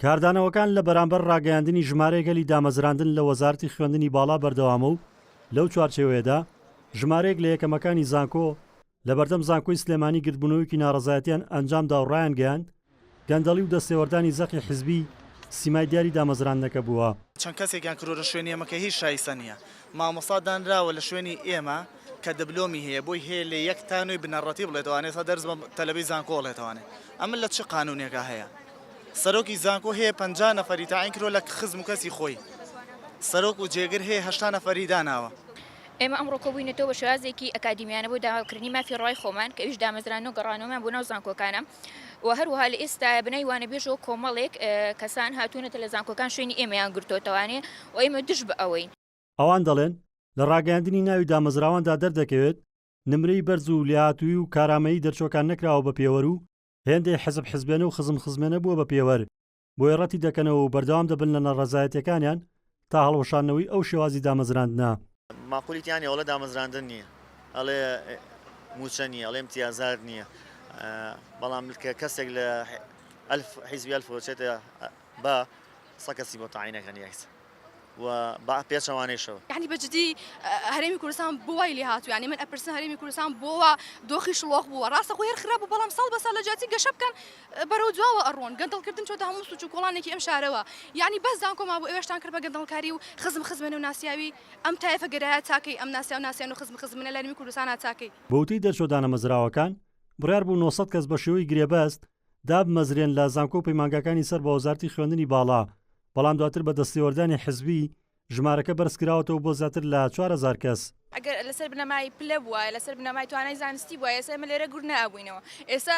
کاردانەوەکان لە بەرامبەر ڕاگەیاندنی ژمارەی گەلی دامەزراندن لە وەزارەتی خوێندنی باڵا بەردەوامە و لەو چوارچێوەیەدا ژمارەیەک لە یەکەمەکانی زانکۆ لەبەردەم زانکۆی سلێمانی گردبوونەوەیەکی ناڕەزایەتیان ئەنجامدا و ڕایانگەیاند گەندەڵی و دەستێوەردانی زەقی حزبی سیمای دیاری دامەزراندنەکە بووە. چەند کەسێکیان کرۆرن شوێنیەمەکە هیچ شایستە نیە مامۆستا دانراوە لە شوێنی ئێمە کە دبلۆمی هەیە بۆی هەیە لە یەک تا نۆی بنەڕەتی بڵێتەوە ئەنێ ئێستا دەرس بە تەلەبەی زانکۆ ئەڵێتەوە ئەنێ ئەمە لە چ قانوونێکا هەیە سەرۆکی زانکۆ هەیە پەنجا نەفەری تەعین کردووە لە خزم و کەسی خۆی سەرۆک و جێگر هەیە هەشتا نەفەری داناوە. ئێمە ئەمڕۆ کۆبووینەتەوە بە شێوازێکی ئەکادیمیانە بۆ داواکردنی مافی ڕەوای خۆمان کە ئەویش دامەزراندن و گەڕانەوەمان بۆ ناو زانکۆکانە و هەروەها لە ئێستایا بەناوی وانەبێژەوە کۆمەڵێک کەسان هاتوونەتە لە زانکۆکان شوێنی ئێمەیان گرتۆتەوە ئەنێ و ئێمە دژ بە ئەوەین. ئەوان دەڵێن، لە ڕاگەیاندنی ناوی دامەزراواندا دەردەکەوێت نمرەی بەرز و لێهاتوویی و کارامەیی دەرچووەکان نەکراوە بە پێوەر و هێندەی حزب حزبێنە و خزم خزمێنە بووە بە پێوەر، بۆیە ڕەتی دەکەنەوە و بەردەوام دەبن لە ناڕەزایەتییەکانیان تا هەڵوەشاندنەوەی ئەو شێوازی دامەزراندنە. ماقولی تیا نیە ئەڵێ دامەزراندن نیە ئەڵێ موچە نیە ئەڵێ امتیازات نیە بەڵام کە کەسێک لە ئەلف حیزبی ئەلف وچێتە با سە کەسی بۆ تاینەکەن یاکس و با پێچەوانەیشەوە یعنی بەجدی هەرێمی کوردستان بۆ وای لێ هاتو ینی من ئەپرسن هەرێمی کوردستان بۆوە دۆخی شڵۆق بووە ڕاستە خۆ هەر خراپ بوو بەڵام ساڵ بەسەر لە جیاتی گەشە بکەن بەرەو دواوە ئەڕۆن گەندەڵ کردن چۆتە هەموو سوچ و کۆڵانێکی ئەم شارەوە یانی بەس زانکۆ مابوو ئێوەشتان کرد بە گەندەڵکاری و خزم خزمێنە و ناسیاوی ئەم تایفە گەرایە چاکەی ئەم ناسیاو ناسیان و خزم خزمێنە لەرمی کوردستانا چاکەی. بە وتەی دەرچوە دانەمەزراوەکان، بڕیار بوو نۆ سەد کەس بە شێوەی گرێبەست دابمەزرێن لە زانکۆ و پەیمانگاکانی سەر بە وەزارەتی خوێندنی باڵا، بەڵام دواتر بە دەستێوەردانی حزبی ژمارەکە بەرزکراوەتەوە بۆ زیاتر لە چوار هەزار کەس. ئەگەر لەسەر بنەمای پلە بوایە، لەسەر بنەمای توانای زانستی بوایە ئێستا ئێمە لێرە گوور نەئەبووینەوە. ئێستا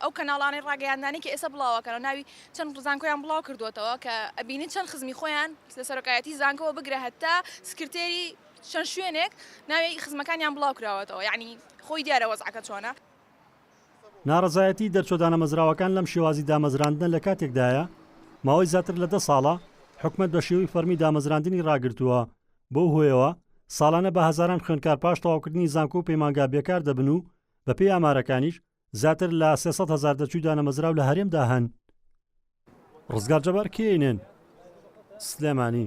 ئەو کەناڵانەی ڕاگەیاندانەی کە ئێستا بڵاو ئەکەن و ناوی چەند زانکۆیان بڵاو کردووەتەوە کە ئەبینی چەند خزمی خۆیان لە سەرۆکایەتی زانکۆوە بگرە هەتا سکرتێری چەند شوێنێک ناوی خزمەکانیان بڵاو کراوەتەوە یانی خۆی دیارە وەزعەکە چۆنە. ناڕەزایەتی دەرچوە دانەمەزراوەکان لەم شێوازی دامەزراندنە لە کاتێکدایە ماوەی زاتر لە دە ساڵە حکومەت بە شێوەی فەرمی دامەزراندنی ڕاگرتوە بەو هۆیەوە ساڵانە بە هەزاران خوێندکار پاش تەواوکردنی زانکۆ و پەیمانگا بێکار دەبن و بەپێی ئامارەکانیش زیاتر لە سێ سەد هەزار دەرچوی دانەمەزراو لە هەرێمدا هەن. ڕزگار جەبار، کەینێن، سلێمانی.